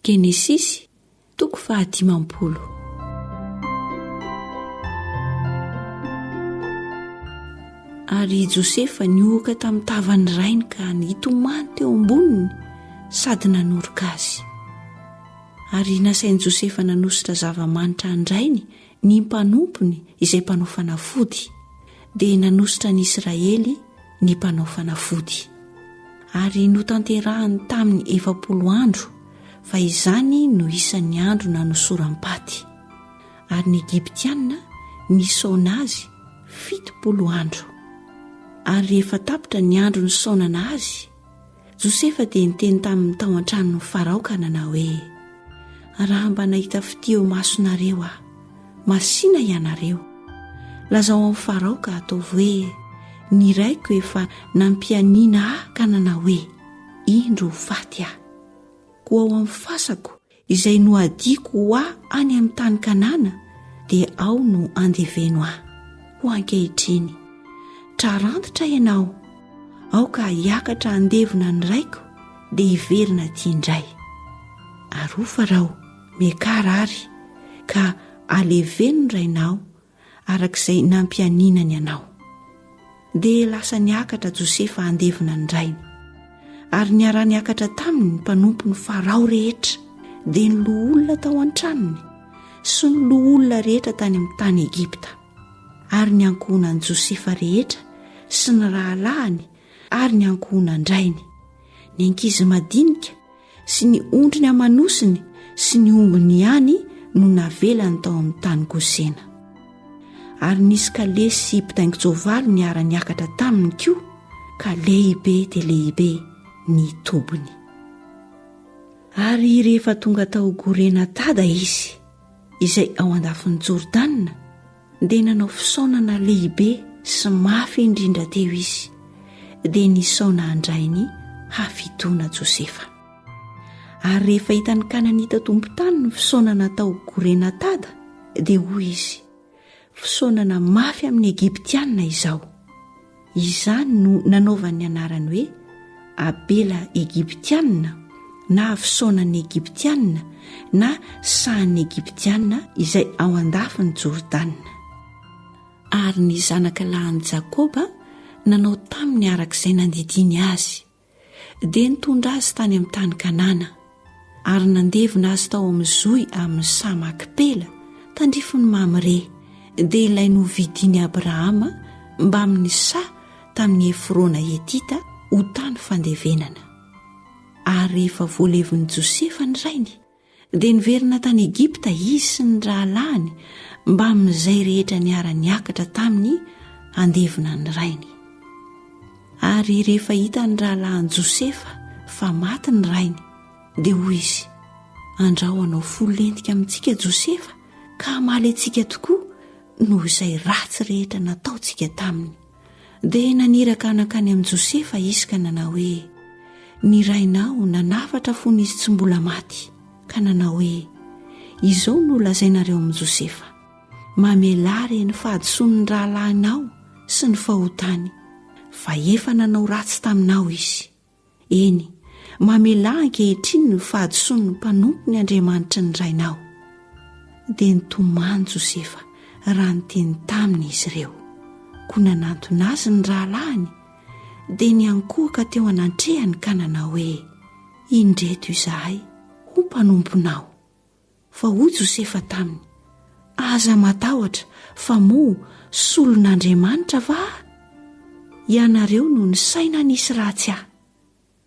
Genesisy, toko fahadimampolo. Ary i Josefa nihohoka tamin'ny tavan'ny rainy ka nitomany teo amboniny sady nanoroka azy. Ary nasain'i Josefa nanositra zava-manitra an-drainy Ny mpanompony izay mpanao fanafody dia nanositra an'i Israely ny mpanao fanafody, ary notanterahiny tamin'ny efapolo andro fa izany no isan'ny andro nanosoram-paty, ary ny Egyptiana nisaona azy fitopolo andro. Ary rehefa tapitra ny andro nisaonana azy, Josefa dia niteny tamin'ny tao an-tranon'i Farao ka nanao hoe, Raha mba nahita fitia eo masonareo aho, masìna ianareo. Lazao amin'i Farao ka ataovy hoe, 'Ny raiko efa nampianiana ahy ka nanao hoe, Indro ho faty aho. Koa ao amin'ny fasako Izay nohadiako ho ahy any amin'ny tany Kanana dia ao no andeveno ahy. Ho ankehitriny, trarantitra ianao, aoka hiakatra handevona ny Raiko dia hiverina aty indray. Arofa raho, miakara ary, ka aleveno ny Rainao araka izay nampianinany anao. Dia lasa niakatra Josefa handevina ny rainy. Ary niara-niakatra taminy ny mpanompony Farao rehetra, dia ny loholona tao an-tranony sy ny loholona rehetra tany amin'ny tany Egypta, ary ny ankohonan'i Josefa rehetra sy ny rahalahiny ary ny ankohonan-drainy, ny ankizy madinika sy ny ondriny aman-nosiny sy ny ombiny ihany no navelany tao amin'ny tany gosena ary nisy kale sy mpitaingin-tsoavaly niara-niakatra taminy koa ka lehibe dia lehibe ny tobiny ary rehefa tonga tao gorena tada izy izay ao an-dafin'i jordana dia nanao fisaonana lehibe sy mafy indrindra teo izy dia nisaona handray ny hafidoana Josefa. Ary rehefa hitan'ny Kananita tompon-tany ny fisaonana tao Gorenatada dia hoy izy, Fisaonana mafy amin'ny Egyptiana izao. Izany no nanaovany ny anarany hoe Abela Egyptiana na Avosonan'ny Egyptiana na Sahan'ny Egyptiana izay ao an-dafin'i Jordana. Ary ny zanaka lahin'i Jakoba nanao taminy araka izay nandidiany azy. Dia nitondra azy tany amin'ny tany Kanana, ary nandevina azy tao amin'ny zohy amin'ny saha Makipela, tandrifin'i Mamre, dia ilay novidin'i Abrahama mbamin'ny saha tamin'i Efrona Hetita ho tany fandevenana. Ary rehefa voalevin'i Josefa ny rainy, Dia niverina tany Egypta izy sy ny rahalahiny mbamin'izay rehetra niara-niakatra taminy handevina ny rainy. Ary rehefa hitan'ny rahalahin'i Josefa fa maty ny rainy, dia hoy izy, Andrao hanao fo lentika amintsika Josefa ka hamaly antsika tokoa noho izay ratsy rehetra nataontsika taminy. Dia naniraka nankany amin'i Josefa izy ka nanao hoe, Ny rainao nanafatra fony izy tsy mbola maty, ka nanao hoe, Izao no lazainareo amin'i Josefa, Mamelà re ny fahadisoan'ny rahalahinao sy ny fahotany, fa efa nanao ratsy taminao izy. Eny, mamelà ankehitriny ny fahadisoan'ny mpanompony Andriamanitry ny rainao. Dia nitomany Josefa raha niteny taminy izy ireo, koa nanantona azy ny rahalahiny, dia niankohoka teo anantrehany ka nanao hoe, Indreto izahay ho mpanomponao. Fa hoy Josefa taminy, Aza matahotra, fa moa solon'Andriamanitra va aho? Ianareo no nisaina nisy ratsy ahy,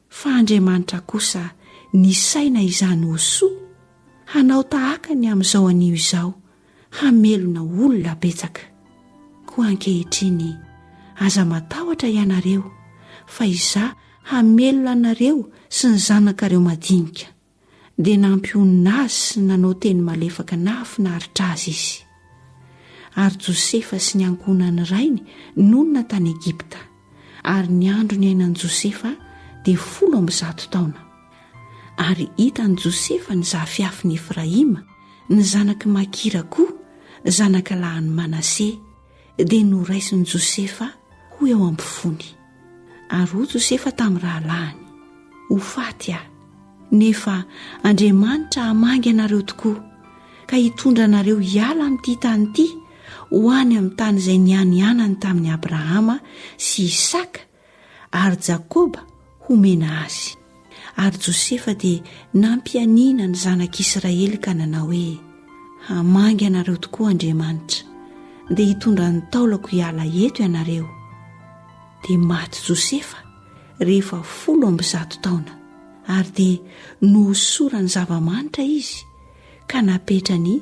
fa Andriamanitra kosa nisaina izany ho soa, hanao tahaka ny amin'izao anio izao, hamelona olona betsaka. Koa ankehitriny, aza matahotra ianareo, fa Izaho hamelona anareo sy ny zanakareo madinika. dia nampionona azy sy nanao teny malefaka nahafinaritra azy izy. Ary Josefa sy ny ankohonan'ny rainy nonina tany Egypta, ary ny andro niainan'i Josefa dia folo amby zato taona. Ary hitan'i Josefa ny zafiafin'i Efraima, ny zanak'i Makira koa, zanakalahin'i Manase, dia noraisin'i Josefa ho eo am-pony. ary ho Josefa tamin'ny rahalahiny, Ho faty aho, nefa Andriamanitra hamangy anareo tokoa, ka hitondra anareo hiala amin'ity tany ity ho any amin'ny tany izay nianianany tamin'i Abrahama sy Isaka ary Jakoba homena azy. Ary Josefa dia nampianiana ny zanak'Israely ka nanao hoe, Hamangy anareo tokoa Andriamanitra, dia hitondra ny taolako hiala eto ianareo. Dia maty Josefa rehefa folo amby zato taona, ary dia nohosorany zava-manitra izy ka napetrany